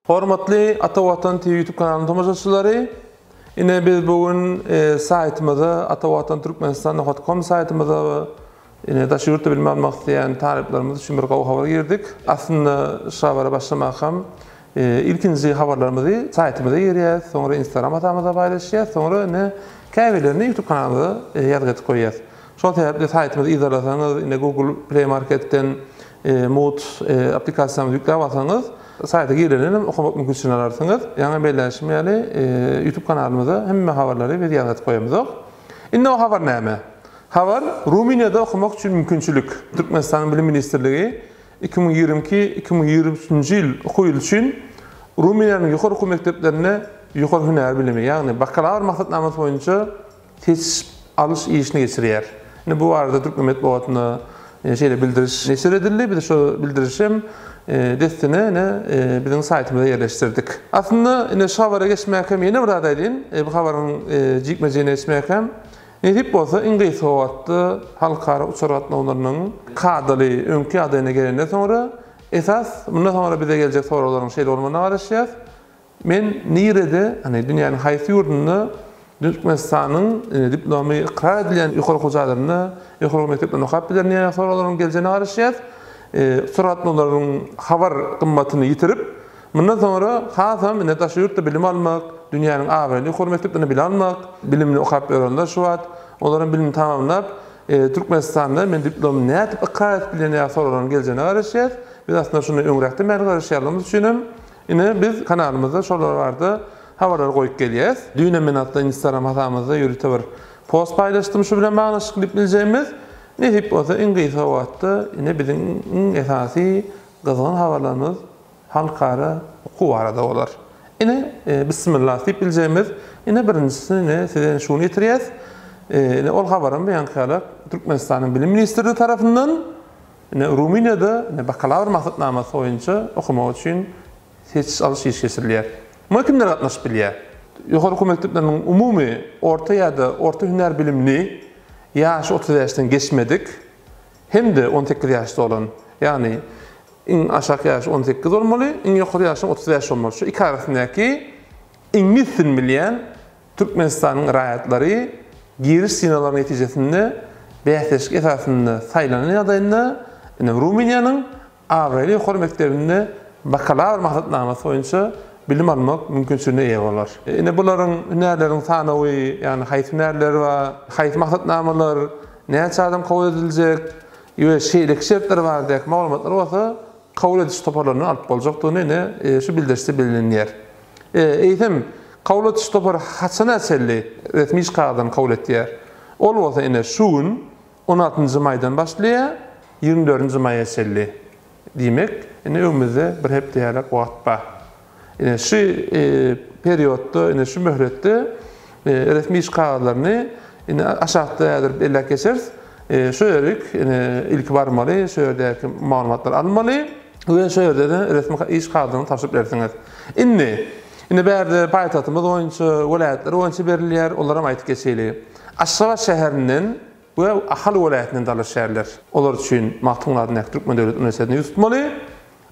Hormatly Ata Watan TV YouTube kanalynyň tomaşaçylary, ine biz bu gün e, saýtymyza atawatanturkmenistan.com saýtymyza ine daşary ýurtda bilim almak isleýän talyplarymyz üçin bir gowy habar girdik. Aslynda şu habara başlamak hem e, ilkinji habarlarymyzy saýtymyza girýäs, soňra Instagram hasabyna paýlaşýas, soňra ine käbirlerini YouTube kanalymyza e, ýazgy edip goýýas. Şol sebäpli saýtymyzy yzarlasaňyz, ine Google Play Marketden Mood applikasiýamyzy ýükläp alsaňyz, saýta girenenem okamak mümkinçiligini alarsyňyz. Ýaňy belläşim ýaly, YouTube kanalymyza hemme habarlary biz ýazgaryp goýamyzok. Indi o habar näme? Habar, Rumyniýada okamak üçin mümkinçilik. Türkmenistanyň Bilim ministrligi iki müň ýigrimi iki, iki müň ýigrimi üçünji ýyl okuw ýyly üçin Rumyniýanyň ýokary okuw mekdeplerinde ýokary hünär bilimi, ýagny bakalawr maksatnamasy boýunça, seçiş alyş işini geçirýär. Ine bu barada türkmen metbugatynda şeýle bildiriş neşir edildi. Biz şo bildirişi hem dessine ine biziň saýtymyza ýerleşdirdik. Aslynda ine şu habara geçmäkäm ýene bir zat aýdaýyn. Bu habaryň jikme-jigine geçmäkäm, nesip bolsa iň gysga wagtda halkara uçar gatnawlarynyň kadaly, öňki ýagdaýyna gelenden soňra, esas mundan soňra bize geljek soraglaryň şeýle bolmagyna garaşýas. Men nirede, hany, dünýäniň haýsy ýurdunda Türkmenistanyň diplomy ykrar edilýän ýokary okuw jaýlarynda, ýokary okuw mekdeplerinde okap bilerin diýýän soraglaryň geljegine garaşýas. Surat olaryň habar gymmatyny ýitirip, mundan soňra hasam ine daşary ýurtda bilim almak, dünýäniň abraýly ýokary mekdeplerinde bilim almak, bilimini okap ýörenler şu wagt, olar hem bilimini tamamlap, Türkmenistanda men diplomy nädip ykrar edip bilerin diýýän soraglaryň geljegine garaşýas. Biz aslynda şunda öňräkden bäri garaşýanlygymyz üçin hem, Ine biz kanalymyzda şolar barada habarlar goýup gelýäs. Düýnem men atly instagram hasamyzda ýörite bir post paýlaşdym şu bilen baglaşyk klip biljegimiz. Nesip bolsa iň gysga wagtda ine biziň iň esasy gyzgyn habarlarymyz halkara okuw barada bolar. Ine bismillah diýip biljegimiz ine birinjisini ine size şuny ýetirýäs. Ine ol habaram bu ýaňky ýala Türkmenistanyň Bilim ministrligi tarapyndan. Ine, Rumyniýada bakalawr maksatnamasy boýunça okamak üçin seçiş alyş işi geçirilýär. Muňa kimler gatnaşyp bilýär? Ýokary okuw mekdepleriniň umumy orta ýa-da orta hünär bilimli, ýaşy otuz bäşden geçmedik hem-de on sekiz ýaş dolan, ýagny iň aşak ýaşy on sekiz bolmaly, iň ýokary ýaşyň otuz bäş bolmaly, şu iki arasyndaky iňlis dilini bilýän Türkmenistanyň raýatlary giriş synaglarynyň netijesinde bäsleşik esasynda saýlanan ýagdaýynda, ine, Rumyniýanyň abraýly ýokary mekdebinde bakalawr maksatnamasy boýunça bilim almak mümkinçiligine eýe bolar. Ine, bularyň, hünärleriň sanawy, ýagny haýsy hünärler bar, haýsy maksatnamalar, näçe adam kabul ediljek we şeýleki şertler baradaky maglumatlary bolsa kabul ediş toparlaryndan alyp boljakdygyny, ine, şu bildirişde bellenilýär. Eýsem, kabul ediş topary haçana çenli resmi şkaladan kabul edýär? Ol bolsa ine şu gün, on altynjy maýdan başlaýar, ýigrimi dördünji maýa çenli. Diýmek, indi öňümizde bir hepde ýaly wagt bar. Ine şu periodda, ine şu möhletde resmi iş kagyzlaryny indi aşakda häzir belläp geçeris. Şu ýerik indi ilki barmaly, şu ýerdäki maglumatlary almaly. Güýe şu ýerde-de resmi iş kagyzyny tabşyryp bersiňiz. Indi, indi bärde paýtagtymyz boýunça, welaýatlar boýunça berilýär, olaram aýdyp geçeýli. Aşgabat şäherinden we Ahal welaýatyndan dalaşgärler. Olar üçin Magtymguly adyndaky Türkmen döwlet uniwersitetini ýüz tutmaly.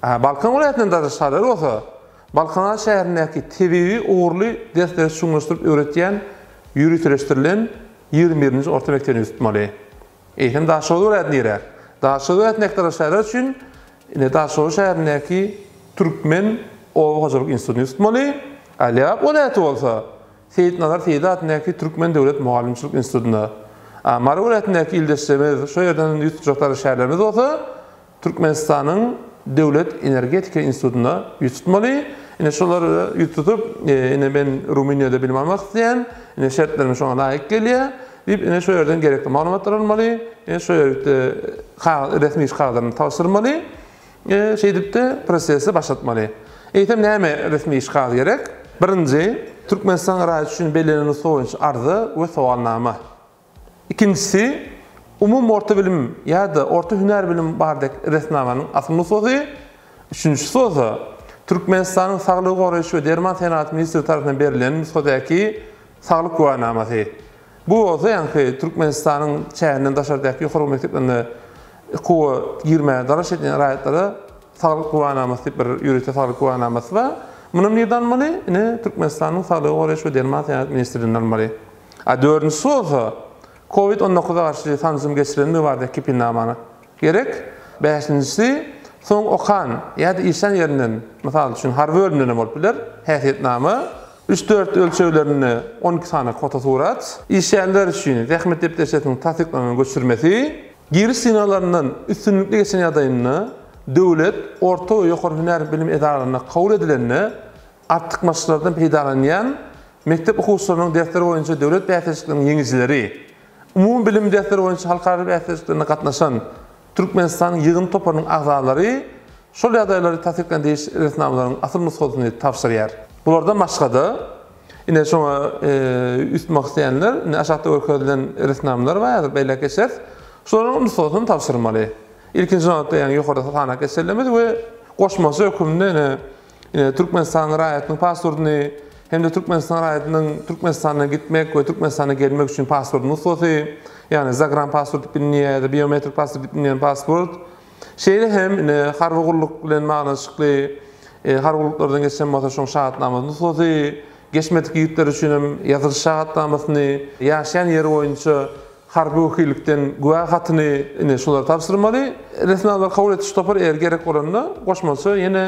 Balkan welaýatyndan dalaşgärler bolsa, Balkanaralýk şäherindäki tebigy ugurly dersleri çuňlaşdyryp öwretýän ýöriteleşdirilen ýigrimi birinji orta mekdebini ýüz tutmaly. Eýsem Daşoguz welaýaty nirä? Daşoguz welaýatyny ektarlar şäher üçin indi Daşoguz şäherindäki Türkmen oba hojalyk institutyny tutmaly, a Lebap welaýaty bolsa Seýitnazar Seýdi adyndaky Türkmen döwlet mugallymçylyk institutyna, a Mary welaýatyndaky ildeşlerimiz şo ýerden ýüz tutjakdary şäherlerimiz bolsa Türkmenistanyň Döwlet energetika institutynda ýüz tutmaly. Ine, şolara ýüz tutup, ine, men Rumyniýada bilim almak isleýän, ine, şertlerim şoňa laýyk gelýär diýip, ine, şo ýerden gerekli maglumatlary almaly, ine, şo ýerde kagyz, resmi iş kagyzlaryny tabşyrmaly, şeýdip-de prosesi başlatmaly. Eýsem, näme resmi iş kagyzy gerek? Birinji, Türkmenistan raýaty üçin bellenen nusga boýunça arza we sowalnama. Ikinjisi, umumy orta bilim ýa-da orta hünär bilim bardaky resminamanyň asyl nusgasy, üçünjisi bolsa, Türkmenistanyň Saglygy goraýyş we derman senagaty ministri tarapyndan berilen nusgadaky saglyk güwänamasy. Bu bolsa ýaňky Türkmenistanyň çäginden daşardaky ýokary mekdeplerine okuwa girmäge dalaş edýän raýatlara saglyk güwänamasy diýip bir ýörite saglyk güwänamasy bar. Munam nirede almaly? Ine, Türkmenistanyň Saglygy goraýyş we derman senagaty ministrliginde almaly. A dördünjisi bolsa, covid on dokuza garşy sanjym geçirenligi barada kepinnamany gerek. Bäşinjisi, soň okan ýa-da işlän ýerinden, mysal üçin, harby bölümden hem bolup biler, häsiýetnama, üç-dört ölçeglerinde on iki sany fotosurat, işleýänler üçin zähmet depderçesiniň tassyklanan göçürmesi, giriş synaglaryndan üstünlikli geçen ýagdaýynda döwlet, orta we ýokary hünär bilim edaralarynda kabul edilende Artykmaçlardan peýdalanýan mekdep okuwçylarynyň dersler boýunça döwlet bäsleşikleriniň ýeňijileri, umumybilim dersleri boýunça halkara bäsleşiklerine gatnaşan Türkmenistanyň ýygyndy toparynyň agzalary şol ýagdaýlary tassyklaýan degişli resminamalaryň asyl nusgasyny tabşyrýar. Bulardan başga-da, ine, şoňa üns etmek isleýänler, indi aşakda görkezilen resminamalar bar, häzir belläp geçeris. Şolaryň nusgasyny tabşyrmaly. Ilkinji nobatda, ýöne ýokarda sanaýyp geçerilmez we goşmaça hökümde, ine, e, Türkmenistanyň raýatynyň pasportyny hem-de Türkmenistan raýatynyň Türkmenistana gitmek we Türkmenistana gelmek üçin pasport nusgasy, ýagny zagran pasport diýip bilinýär ýa-da biometrik pasport diýip bilinýän pasport. Şeýle hem ine harby gulluk bilen baglanşykly e, harby gulluklardan geçen bolsa şoň şahatnama nusgasy, Geçmedik ýigitler üçin hem ýazylyş şahatnamasyny, ýaşaýan ýeri boýunça harby wekillikden güwä hatyny, ine, şulary tabşyrmaly. Resminamalar kabul ediş topary eger gerek bolanda, goşmaça ýene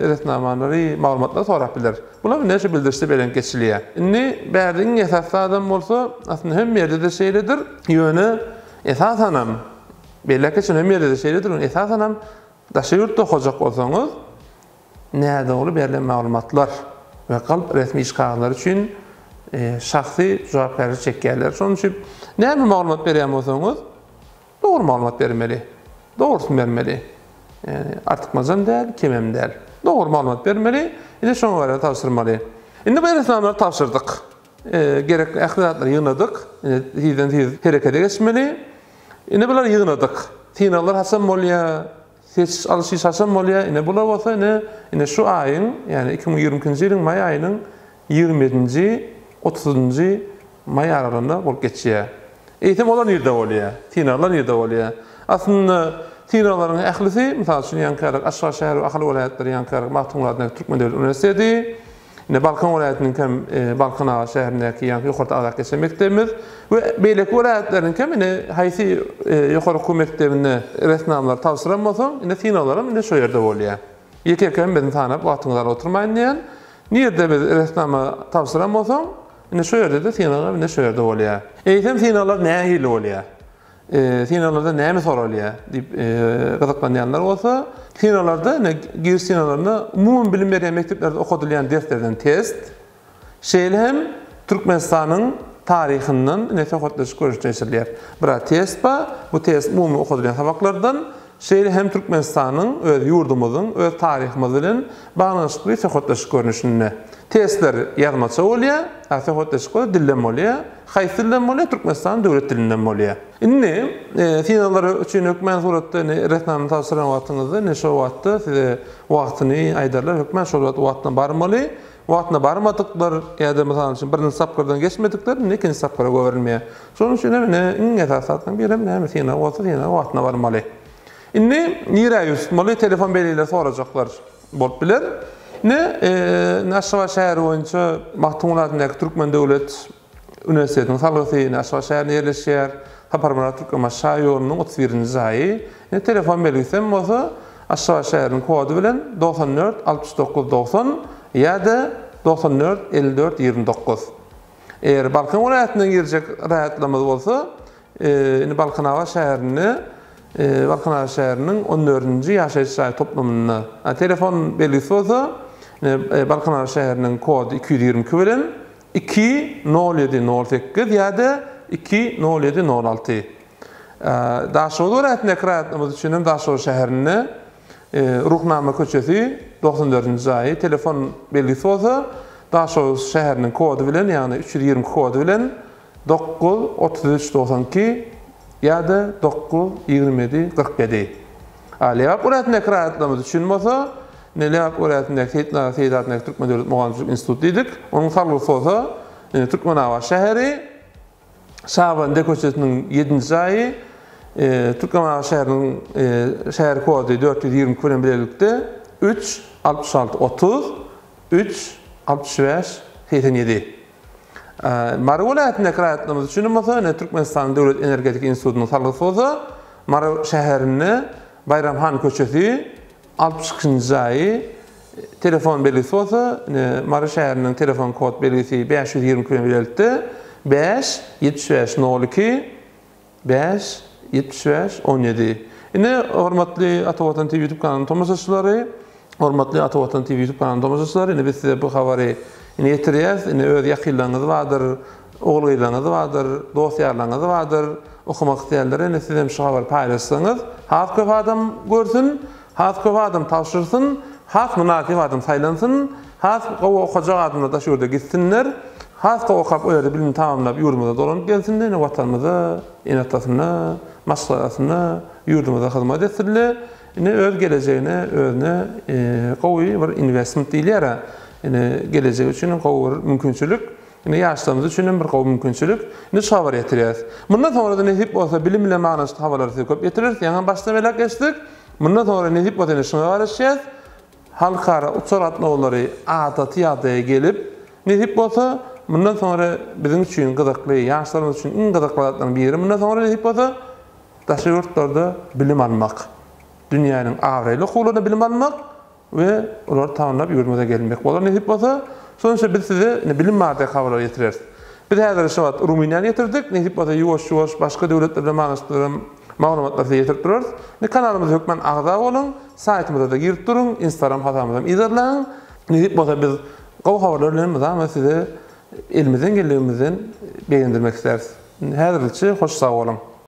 resminamalary, maglumatlary sorap biler. Bular indi şu bildirişde belent geçilýär. Indi bärde iň esasy zadam bolsa, aslynda hemme ýerde-de şeýledir, ýöne esasanam, belläp geçen hemme ýerde-de şeýledir, ýöne esasanam daşary ýurtda okajak bolsaňyz, nädogry berlen maglumatlar we galp resmi iş kagazlary üçin şahsy jogapkärçilik çekýärler. Şonuň üçin näme maglumat berýän bolsaňyz, dogry maglumat bermeli. Dogrusyny bermeli. Ýani artykmajam däl, kemem däl. Dogry maglumat bermeli, ine şoňa görä tabşyrmaly. Indi bu resminamany tabşyrdyk. Gerekli ähli zatlary ýygnadyk. Indi tizden-tiz herekete geçmeli. Indi bulary ýygnadyk. Synaglar haçan bolýar? Seçiş alşyş haçan bolýar? Ine bular bolsa ine, ine şu aýyň, ýagny iki müň ýigrimi ikinji ýylyň maý aýynyň ýigrimi ýedinji, otuzynjy maý aralygynda bolup geçýär. Eýsem olar nirede bolýar? Synaglar nirede bolýar? Aslynda synaglaryň ählisi, mysal üçin ýaňky ýalyk Aşgabat şäheri we Ahal welaýatlary ýaňky ýalyk Magtymguly adyndaky Türkmen döwlet uniwersiteti, Ine, Balkan welaýatynyňkam Balkanabat şäherindäki ýaňky ýokary agzak geçen mekdebimiz we beýleki welaýatlaryňkam ine haýsy ýokary okuw mekdebinde resminamalar tabşyran bolsaň, ine synaglaram ine şo ýerde bolýar. Ýeke-ýeke hemmesini sanap wagtyňyzy alyp oturmaýyn diýýän. Nirde biz resminama tabşyran bolsaň, ine şo ýerde-de synagam ine şo ýerde bolýar. Eýsem synaglar nähili bolýar? Synaglarda näme soralýar? diýip gyzyklanýanlar bolsa, synaglarda ine giriş synaglarynda umumy bilim berýän mekdeplerde okadylýan derslerden test, şeýle hem Türkmenistanyň taryhyndan ine söhbetdeşlik görnüşinde geçirilýär. Bir test bar, bu test umumy okadylýan sabaklardan şeýle hem Türkmenistanyň öz ýurdumyzyň öz taryhymyz bilen baglanyşykly söhbetdeşlik görnüşinde. Testler ýazmaça bolýar, a söhbetdeşlikler dilden bolýar. Haýsy dilden bolýar? Türkmenistanyň döwlet dilinden bolýar. Indi synaglar üçin hökmän suratda indi resminama tabşyran wagtyňyzda indi şol wagtda size wagtyny aýdarlar, hökmän şol wagtdan barmaly. wagtynda barmadyklar ýa-da, mysal üçin, birinji tapgyrdan geçmedikler indi ikinji tapgyra goýberilmeýär. Şonuň üçin hem ine, iň esasy zatlaryň biri hem näme, synag bolsa, synaga wagtynda barmaly. Indi nirä ýüz tutmaly, telefon belgileri sorajaklar bolup biler. Ine, Aşgabat şäheri boýunça Magtymguly adyndaky Türkmen döwlet Uniwersitetiň salgysy ine Aşgabat şäherinde ýerleşýär. Saparmyrat Türkmenbaşy şaýy ýolunyň otuz birinji jaýy. Ine telefon belgisem bolsa Aşgabat şäheriniň kody bilen togsan dört altmyş dokuz togsan ýa-da togsan dört elli dört ýigrimi dokuz. Eger Balkan welaýatyndan girjek raýatlarymyz bolsa ine Balkanabat şäherinde Balkanabat şäheriniň on dördünji ýaşaýyş jaý toplumynda. Telefon belgisi bolsa ine Balkanabat şäheriniň kody iki ýüz ýigrimi iki bilen Iki, nol ýedi, nol sekiz ýa-da iki, nol ýedi, nol alty. Daşoguz welaýatyndaky raýatlarymyz üçin hem Daşoguz şäherinde Ruhnama köçesi, togsan dördünji jaýy, telefon belgisi bolsa Daşoguz şäheriniň kody bilen, ýagny üç ýüz ýigrimi iki kody bilen dokuz, otuz üç, togsan iki ýa-da dokuz, ýigrimi ýedi, kyrk ýedi. Alyýap welaýatyndaky raýatlarymyz üçin bolsa, indi Alyýap welaýatyndaky Seýitnazar Seýit adyndaky Türkmen döwlet mugallymçylyk instituty diýdik. Onuň salgysy bolsa, indi Türkmenabat şäheri, Şabandy köçesiniň ýedinji jaýy, Türkmenabat şäheriniň şäher kody dört ýüz ýigrimi iki bilen bilelikde, üç, altmyş alty, otuz, üç, altmyş bäş, segsen ýedi. Mary welaýatyndaky raýatlarymyz üçin bolsa ine Türkmenistanyň Döwlet energetika institutynyň salgysy bolsa Mary şäherinde Baýram han köçesi altmyş ikinji jaýy telefon belgisi bolsa ine Mary şäheriniň telefon kod belgisi bäş ýüz ýigrimi iki bilen belentde bäş ýetmiş bäş nol iki Bäş, ýetmiş bäş, on ýedi. Ine, hormatly Ata Watan TV YouTube kanalynyň tomaşaçylary, hormatly Ata Watan TV YouTube kanalynyň tomaşaçylary, indi biz size bu habary indi ýetirýäs. Indi öz ýakynlaryňyz bardyr, ogul-gyzlaryňyz bardyr, dost-ýarlaryňyz bardyr, okamak isleýänlere indi sizem şu habary paýlaşsaňyz, has köp adam görsün. Has köp adam tabşyrsyn, has mynasyp adam saýlansyn, has gowy okajak adamlar daş ýurda gitsinler, has gowy okap, o ýerde bilimini tamamlap ýurdumyza dolanyp gelsinler, ine Watanymyza, ene-atasyna, maşgalasyna, ýurdumyza hyzmat etsinler, ine öz gelejegine, özüne gowy bir investment diýilýär-ä, ine gelejegi üçin gowy bir mümkinçilik. Ine, ýaşlarymyz üçin hem bir gowy mümkinçilik. Indi şu habary ýetirýäris. Mundan soňra-da nesip bolsa bilim bilen baglanşykly habarlary size köp ýetireris. Ýaňy başdan belläp geçdik. Mundan soňra nesip bolsa ýene şuňa garaşýas. Halkara uçar gatnawlary adaty ýagdaýa gelip, nesip bolsa, mundan soňra biziň üçin gyzykly, ýaşlarymyz üçin iň gyzykly zatlaryň biri mundan soňra nesip bolsa, daşary ýurtlarda bilim almak. Dünýäniň abraýly okuwlarynda bilim almak. we olary tanlap ýurdumyza gelmek bolar nesip bolsa, soňça biz size ine bilim baradaky habarlary ýetireris. Biz häzir şu wagt Rumyniýany ýetirdik, nesip bolsa ýuwaş-ýuwaş başga döwletler bilen baglanyşyklyram maglumatlary size ýetirip durarys. Ine kanalymyza hökman agza boluň, saýtymyzada girip duruň, instagram hasabymyzam yzarlaň. Nesip bolsa biz gowy habarlar bilen mydama sizi elimizden geldigimizden begendirmek isläris. Häzirlikçe hoş sag boluň.